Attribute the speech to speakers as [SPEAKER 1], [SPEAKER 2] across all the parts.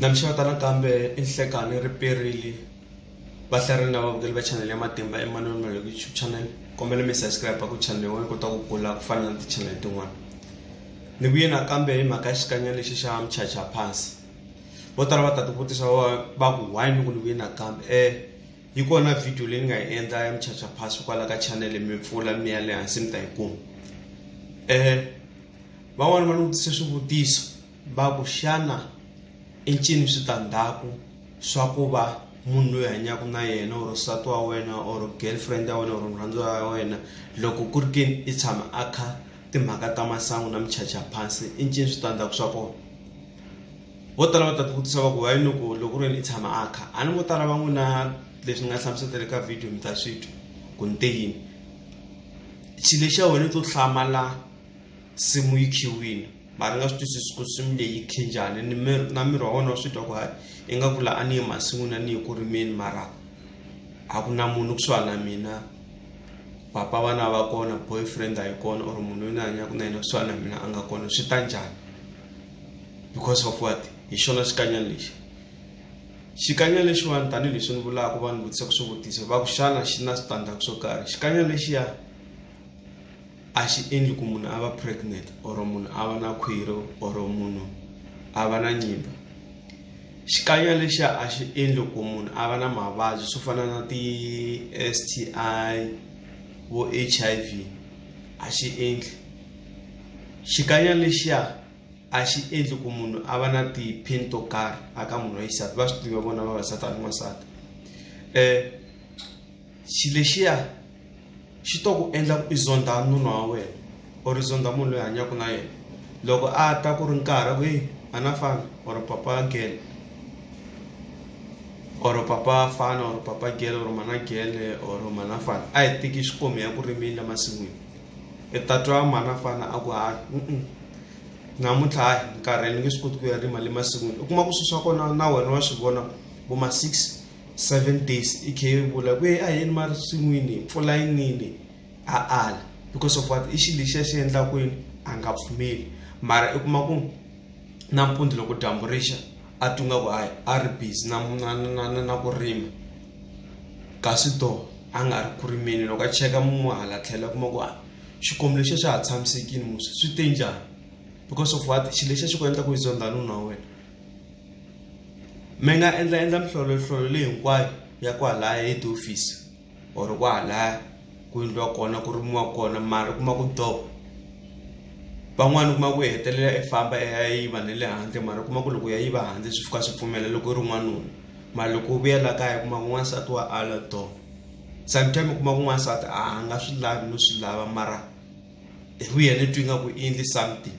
[SPEAKER 1] Na mi xeweta nakambe i Nhlekani ri perile va hlarini lava vukeli va channel ya Matimba Emmanuel Maloko YouTube channel kombela mi subscribe ku channel yin'wana yi kota ku kula ku fana na ti-channel tin'wana ni vuye nakambe hi mhaka ya xikanyana lexi xa muchacha pass vo tala va ta tivutisa va ku why ni ku ni vuye nakambe um yi kona video leyi ni nga yi endla ya muchacha pass kwala ka channel mi pfula mi ya le hansi mi ta yi kuma um van'wani va ni vutise swivutiso va ku xana i ncini switandzhaku swa ku va munhu loyi hanyaka na yena or nsati wa wena or girlfriend ya wena or murhandziwa ya wena loko ku ri ke ni i tshama a kha timhaka ta masangu na muchacha phansi i ncini switandzhaku swa kona vo tala va ta ti vutisa va ku va yini ku loko ku ri yini i tshama a kha a ni vo tala va n'wi na leswi ni nga hlamuseta le ka video mi ta swi twa ku ni te yini xilo xa wena i to hlamala simu yi khiwini mara nga swi twisisi ku swimi leyi khinjhani ni mi- na miri wa wena wa swi twa ku hayi ingaku la a ni ye masin'wini a ni ye ku rimeni mara a ku na munhu kusuhani na mina papa vana va kona boyfriend a yi kona or munhu loyi ni hanyaka na yena kusuhani na mina a nga kona swi ta njhani because of what hi xona xikanyana lexi xikanyana lexiwani tanihileswi ni vulaka vanhu vutisa ku swivutiso va ku xana xi na switandzhaku swo karhi xikanyana lexiya a xi endli ku munhu a va pregnant or munhu a va na khwiri or munhu a va na nyimba xikanya lexiya a xi endli ku munhu a va na mavabyi swo fana na ti-s t i vo h i v a xi endli xikanya lexiya a xi endli ku munhu a va na ti-pain to karhi a ka munhu wa xisati va swi tiva vona vavasati a ni n'wansati um xilo lexiya xi to ku endla ku i zondha nuna wa wena or i zondha munhu loyi hanyaka na yena loko a ta ku ri nkarhi ku a na fana or papa gele or papa fana or papa gele or mana gele or mana fana a hi teki xikomi ya ku rimini la masin'wini i ta twa mana fana a ku ha namuntlha hayi nkarhi ni nge swi koti ku ya rima le masin'wini u kuma ku swilo swa kona na wena wa swi vona vo ma six seven days i khe vula ku ye a yini ma ri swin'wini mpfula yi nini a ala because of what i xi lexi a xi endla kwini a nga pfumeli mara i kuma ku nampundzu loko dyambu rixa a twi nga ku hayi a ri busy na na na na na ku rima kasi to a nga ri ku rimeni loko a cheka mun'we hala tlhela kuma ku a xikwembu lexi xa ha tshamisekile musi swi te njhani because of what xi lexi a xi ku endla ku yi zonda nuna wa wena mi nga endla endla minhlolonhlolo leyi hinkwayo ya kwalaya head office or kwalaya ku endliwa kona ku rimiwa kona mara u kuma ku doo van'wani u kuma ku hetelela i famba i ya yiva na le handle mara u kuma ku loko u ya yiva handle swi fika swi pfumela loko u ri n'wanuna mara loko u vuya la kaya u kuma ku n'wansati wa ala doo sometime u kuma ku n'wansati a nga swi lavi no swi lava mara hi vuya ni twa ingaku i endle something.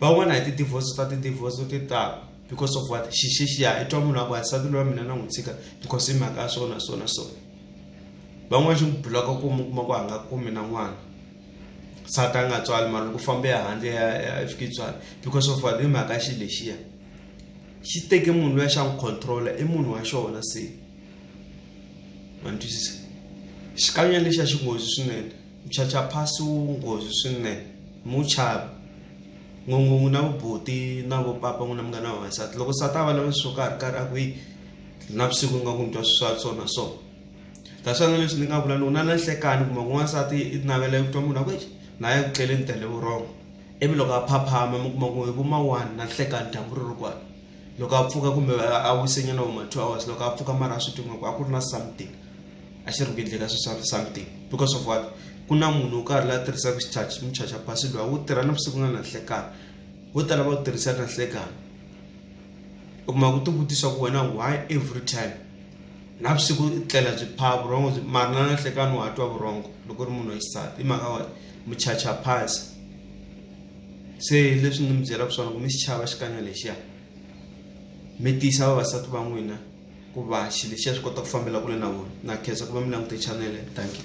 [SPEAKER 1] van'wana hi ti-divorce ta ti-divorce ti tala because of what xixixiya i twa munhu a ku wansati lowa mina na n'wi tshika because i mhaka ya swona swona swona van'wana xi n'wi bloka ku mi kuma ku a nga kumi na n'wana nsati a nga tswali mara loko fambe ya handle ya fika tswala because of what i mhaka xi lexiya xi teke munhu loya xa n'wi controla i munhu wa xona se ma ni twisisa xikanyana lexiya xi nghozi swinene Mphyaphyaphasu wu nghozi swinene. Muchavi, N'win'win'wi na vubuti na vo papa n'wina mi nga na vavasati. Loko nsati a vulavula swo karhi karhi a ku yi navusiku u nga ku mi twa swa so na so. Ta swa na leswi ni nga vula ni ku na na nhlekani kumbe ku n'wansati i navela ku twa munhu a ku exi na ya ku tlele ni tele vurhongo. Ivi loko a phaphama mi kuma ku hi vo ma one na nhlekani dyambu ri ri kwale. Loko a pfuka kumbe a wise nyana vo ma two hours loko a pfuka mara a swi twi nga ku a ku ri na something. a xi ri ku endleni ka sweswi something because of what ku na munhu wo karhi la tirhisaka xichachi muchacha pasi lowa wu tirha navusiku na nanhlekani vo tala va wu tirhisa nanhlekani u kuma ku tivutisa ku wena why every time navusiku i tlela byi pha vurhongo byi mari na nanhlekani wa twa vurhongo loko ri munhu wa xisati i mhaka wa muchacha pasi se leswi ni mi byelaka swona ku mi xichava xikanya lexiya mi tiyisa vavasati va n'wina ku va xilo xi ya swi kota ku fambela kule na vona na khensa ku va mi langute chanele thank you.